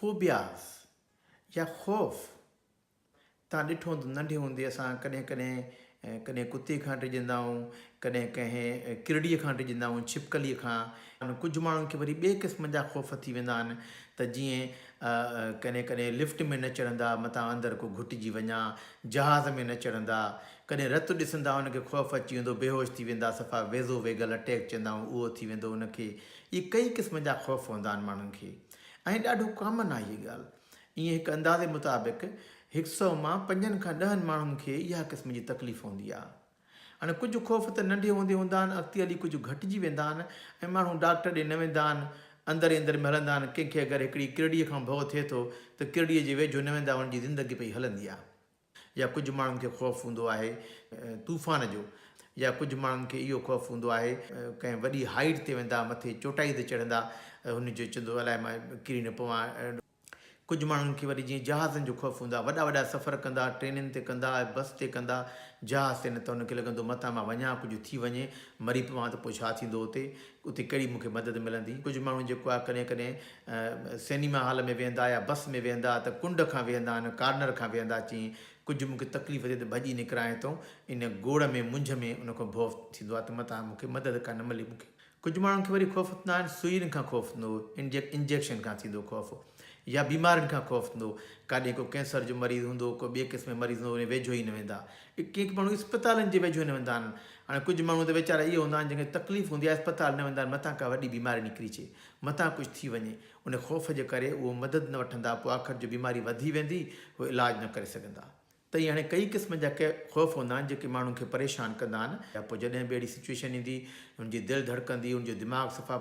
Phobias يا خوف، تان ڏٺو هوندو ننڍي هوندي اسان ڪڏهن ڪڏهن ڪڏهن ڪتي کان ڊڄندا هئون ڪڏهن ڪنهن ڪرڙي کان ڊڄندا هئون ڇپڪلي کان ۽ ڪجهه ماڻهن کي وري ٻئي قسم جا خوف ٿي ويندا آهن ته جيئن ڪڏهن ڪڏهن لفٽ ۾ نه چڙهندا متان اندر ڪو گهٽجي وڃا جهاز ۾ نه چڙهندا ڪڏهن رت ڏسندا ان کي خوف اچي ويندو بيهوش ٿي ويندا صفا ويزو ويگل اٽيڪ چوندا هئون اهو ٿي ويندو ان کي اهي ڪئين قسمن جا خوف هوندا آهن ماڻهن کي ۽ ڏاڍو ڪامن آهي هيء ڳالهه. ائين هڪ اندازي مطابق هڪ سئو مان پنجن کان ڏهن ماڻهن کي اها قسم جي تڪليف هوندي آهي. هاڻي ڪجهه خوف ته ننڍي هوندي هوندا آهن اڳتي هلي ڪجهه گهٽجي ويندا آهن ۽ ماڻهو ڊاڪٽر ڏي نه ويندا آهن اندر ئي اندر ۾ هلندا آهن ڪنهن کي اگر هڪڙي ڪرڙيء کان ڀؤ ٿئي ٿو ته ڪرڙيء جي ويجهو نه ويندا هن جي زندگي پئي هلندي آهي. يا ڪجهه ماڻهن کي خوف هوندو آهي طوفان جو يا ڪجهه ماڻهن کي اهو خوف هوندو آهي ڪنهن وڏي هائيٽ تي ويندا مٿي چوٽائي تي چڙهندا هن جو چوندو الاء مان ڪري نه پوان. ڪجهه ماڻهن کي وري جيئن جهازن جو خوف هوندا وڏا وڏا سفر ڪندا ٽرينن تي ڪندا بس تي ڪندا جهاز تي نه ته هن کي لڳندو متان مان وڃان ڪجهه ٿي وڃي مري پوان ته پوء ڇا ٿيندو اتي اتي ڪهڙي مون کي مدد ملندي؟ ڪجهه ماڻهو جيڪو آهي ڪڏهن ڪڏهن سئنيما هال ۾ ويهندا يا بس ۾ ويهندا ته ڪنڊ کان ويهندا آهن، ڪارنر کان ويهندا اچين ڪجهه مون کي تڪليف ٿئي ته ڀڄي نڪران هتئون ان گوڙ ۾ منجهه ۾ ان کان ڀؤ ٿيندو آهي ته متان مون کي مدد ڪا نه ملي مون کي ڪجهه ماڻهن کي وري خوف ٿيندا آهن سوئين کان خوف ٿيندو انجيڪ انجيڪشن کان ٿيندو خوف يا بيمارين کان خوف ٿيندو ڪاڏي ڪو ڪينسر جو مريض هوندو ڪو ٻي قسم جو مريض هوندو ان جي ويجهو ئي نه ويندا ڪيڪ ماڻهو اسپتالن جي ويجهو نه ويندا آهن هاڻي ڪجهه ماڻهو ته ويچارا اهي هوندا آهن جن کي تڪليف هوندي آهي اسپتال نه ويندا آهن متان ڪا وڏي بيماري نڪري اچي متان ڪجهه ٿي وڃي ان خوف جي ڪري اهو مدد نه وٺندا پوء آخر جو بيماري وڌي ويندي هو علاج نه ڪري سگهندا تئي هاڻي ڪئي قسمن جا ڪي خوف هوندا آهن جيڪي ماڻهن کي پريشان ڪندا آهن پوء جڏهن به اهڙي سچويشن ايندي هن جي دل ڌڙڪندي هن جو دماغ صفا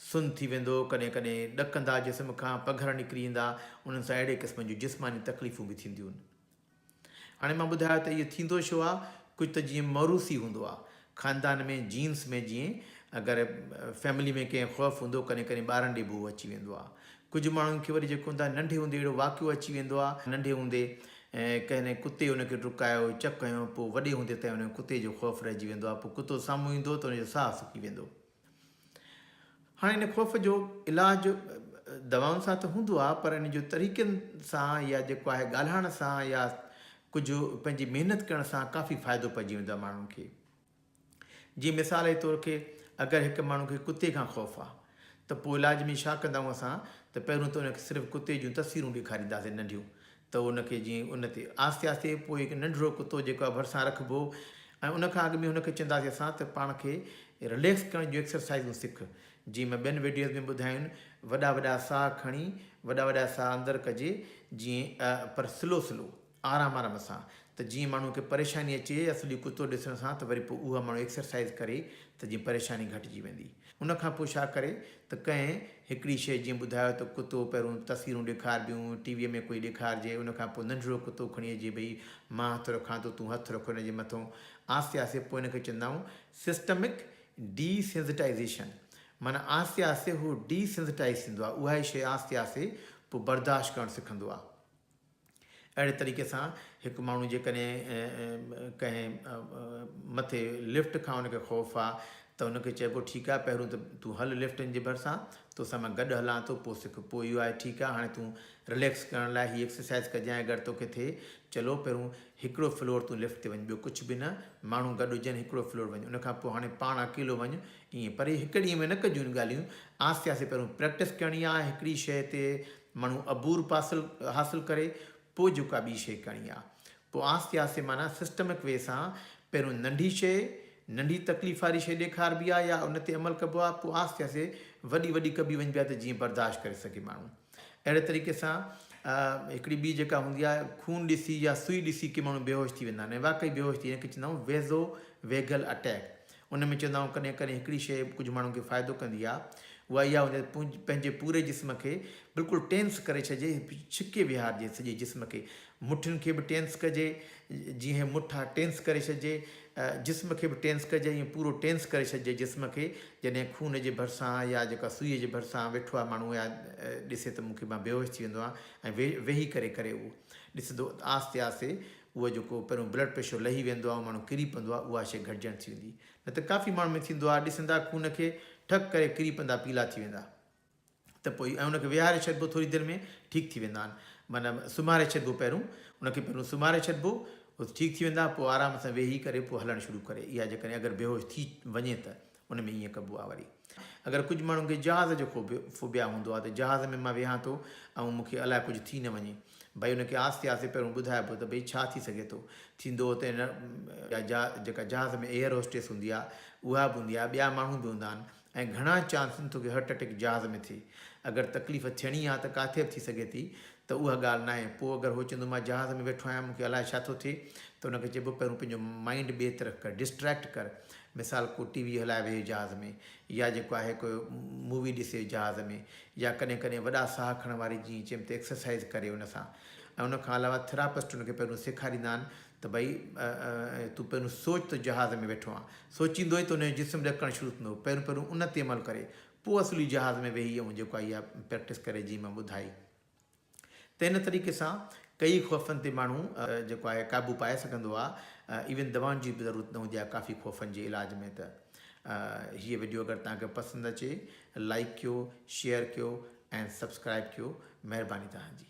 سن ٿي ويندو ڪڏهن ڪڏهن ڏڪندا جسم کان پگهر نڪري ايندا انهن سان اهڙي قسمن جون جسماني تڪليفون به ٿينديون هاڻي مان ٻڌايو ته اهو ٿيندو ڇو آهي، ڪجهه ته جيئن موروثي هوندو آهي، خاندان ۾ جينس ۾ جيئن اگر فيملي ۾ ڪنهن خوف هوندو ڪڏهن ڪڏهن ٻارن ڏي ڀو اچي ويندو آهي، ڪجهه ماڻهن کي وري جيڪو هوندو آهي ننڍي هوندي اهڙو واقعو اچي ويندو آهي، ننڍي هوندي ڪنهن ڪتي ان کي ڊڪايو، چڪ هنيو، پوء وڏي هوندي تائين ان کي ڪتي جو خوف رهجي ويندو آهي، پوء ڪتو سامهون ايندو ته ان جو ساهه سڪي ويندو. هاڻي ان خوف جو علاج دوائن سان ته هوندو آهي پر ان جو طريقن سان يا جيڪو آهي ڳالهائڻ سان يا ڪجهه پنهنجي محنت ڪرڻ سان ڪافي فائدو پئجي ويندو آهي ماڻهن کي جي مثال جي طور کي اگر هڪ ماڻهو کي ڪتي کان خوف آهي ته پوء علاج ۾ ڇا ڪندا آهيون اسان ته پهريون ته ان کي صرف ڪتي جون تصويرون ڏيکارينداسين ننڍيون ته ان کي جيئن ان تي آهستي آهستي پوء هڪ ننڍڙو ڪتو جيڪو آهي ڀرسان رکبو ۽ ان کان اڳ ۾ ان کي چونداسين اسان ته پاڻ کي رليڪس ڪرڻ جون ايڪسرسائيزون سک جيئن مان ٻين وڊيوز ۾ ٻڌايون وڏا وڏا ساهه کڻي وڏا وڏا ساهه اندر ڪجي جيئن پر سلو سلو آرام آرام سان ته جيئن ماڻهو کي پريشاني اچي يا سڄو ڪتو ڏسڻ سان ته وري پوء اها ماڻهو ايڪسرسائيز ڪري ته جيئن پريشاني گهٽجي ويندي. ان کان پوء ڇا ڪري ته ڪنهن هڪڙي شيء جيئن ٻڌايو ته ڪتو پهريون تصويرون ڏيکاربيون، ٽي ويء ۾ ڪوئي ڏيکارجي، ان کان پوء ننڍڙو ڪتو کڻي اچجي ڀئي مان هٿ رکان ٿو، تون هٿ رک هن جي مٿئون. آهستي آهستي پوء ان کي چوندا آهيون سسٽمڪ ڊي سينسٽائيزيشن. معنيٰ آهستي آهستي هو ڊي سينسٽائيز ٿيندو آهي، اهائي شيء آهستي آهستي پوء برداشت ڪرڻ سکندو آهي. اهڙي طريقي سان هڪ ماڻهو جيڪڏهن ڪنهن مٿي لفٽ کان ان کي خوف آ ته ان کي چئبو ٺيڪ آ پهرون ته تون هل لفٽن جي ڀرسان توسان مان گڏ هلان ٿو پوء سک پوء اهو آهي ٺيڪ آ هاڻي تون رليڪس ڪرڻ لاء هي ايڪسرسائيز ڪجانء اگر توکي ٿئي چلو پهرون هڪڙو فلور تون لفٽ تي وڃ ٻيو ڪڇ به نه ماڻهو گڏ هجن هڪڙو فلور وڃ ان کان پوء هاڻي پاڻ اڪيلو وڃ ائين پر هي هڪ ڏينهن ۾ نه ڪجون ڳالهيون آهستي آهستي پهرون پريڪٽس ڪرڻي آ هڪڙي شيء تي مڻهو عبور پاسل حاصل ڪري پوء جو ڪا ٻي شيء ڪرڻي آ. پوء آهستي آهستي معنيٰ سسٽمڪ وي سان پهريون ننڍي شيء، ننڍي تڪليف واري شيء ڏيکاربي آ يا ان تي عمل ڪبو آ پوء آهستي آهستي وڏي وڏي ڪبي وڃبي آ ته جيئن برداشت ڪري سگهي ماڻهو. اهڙي طريقي سان هڪڙي ٻي جيڪا هوندي آ خون ڏسي يا سوئي ڏسي ڪي ماڻهو بيهوش ٿي ويندا آهن ۽ واقعي بيهوش ٿي هن کي چوندا آهيون ويزو ويگل اٽيڪ ان ۾ چوندو آهيان ڪڏهن ڪڏهن هڪڙي شيء ڪجهه ماڻهن کي فائدو ڪندي آهي اها اها هوندي آهي ته پنهنجي پوري جسم کي بلڪل ٽينس ڪري ڇڏجي ڇڪي ويهارجي سڄي جسم کي مٺين کي به ٽينس ڪجي جيئن هي مٺ آهي ٽينس ڪري ڇڏجي جسم کي به ٽينس ڪجي ائين پورو ٽينس ڪري ڇڏجي جسم کي جڏهن خون جي ڀرسان يا جيڪا سوئي جي ڀرسان ويٺو آهي ماڻهو يا ڏسي ته مون کي مان بيهوش ٿي ويندو آهيان ۽ ويهي ڪري ڪري اهو ڏسندو آهستي آهستي اهو جيڪو پهريون بلڊ پريشر لهي ويندو آهي ۽ ماڻهو ڪري پوندو آهي اها شيء گهٽجڻ ٿي ويندي نه ته ڪافي ماڻهن ۾ ٿيندو آهي ڏسندا خون کي ٺڪ ڪري ڪري پوندا پيلا ٿي ويندا ته پوء ۽ ان کي ويهاري ڇڏبو ٿوري دير ۾ ٺيڪ ٿي ويندا آهن معنيٰ سمهاري ڇڏبو پهريون ان کي پهريون سمهاري ڇڏبو ٺيڪ ٿي ويندا پوء آرام سان ويهي ڪري پوء هلڻ شروع ڪري اها جيڪڏهن اگر بيهوش ٿي وڃي ته ان ۾ ائين ڪبو آ وري اگر ڪجھ ماڻھن کي جھاز جو خوف فوبيا ھوندو آ ته جھاز ۾ مان ويھان ٿو ۽ مون کي الاء ڪجھ ٿي نه وڃي ڀئي ان کي آھستي آھستي پھريون ٻڌائبو ته ڀئي ڇا ٿي سگھي ٿو ٿيندو ته ان جا جيڪا جھاز ۾ ايئر ھوسٽيس ھوندي آ اھا به ھوندي آ ٻيا ماڻھو به ھوندا آھن ۽ گھڻا چانس آھن توکي ھرٽ اٽيڪ جھاز ۾ ٿئي اگر تڪليف ٿيڻي آ ته ڪاٿي به ٿي سگھي ٿي ته اھا ڳالھ ناھي پوء اگر ھو چوندو مان جھاز ۾ ويٺو آھيان مون کي الاء ڇا ٿو ٿئي ته ان کي چئبو پھريون پنھنجو مائينڊ ٻئي طرف ڪر ڊسٽريڪٽ ڪر مثال ڪو ٽي وي هلائي ويهي جهاز ۾ يا جيڪو آهي ڪو مووي ڏسي جهاز ۾ يا ڪڏهن ڪڏهن وڏا ساهه کڻڻ واري جيئن چيم ته ايڪسرسائيز ڪري ان سان ۽ ان کان علاوه ٿراپسٽ ان کي پهريون سيکاريندا آهن ته ڀئي تون پهريون سوچ ته جهاز ۾ ويٺو آهين سوچيندو ئي ته ان جو جسم ڏڪڻ شروع ٿيندو پهريون پهريون ان تي عمل ڪري پوء اصلي جهاز ۾ ويهي ۽ جيڪو آهي اها پريڪٽس ڪري جيئن مان ٻڌائي. ته ان طريقي سان ڪيئي خوفن تي ماڻهو جيڪو آهي قابو پائي سگهندو آهي ايون دوائن جي به ضرورت نه هوندي آهي ڪافي خوفن جي علاج ۾ ته هيء وڊيو اگر توهان کي پسند اچي لائيڪ ڪيو شيئر ڪيو ۽ سبسڪرائيب ڪيو مهرباني توهان جي.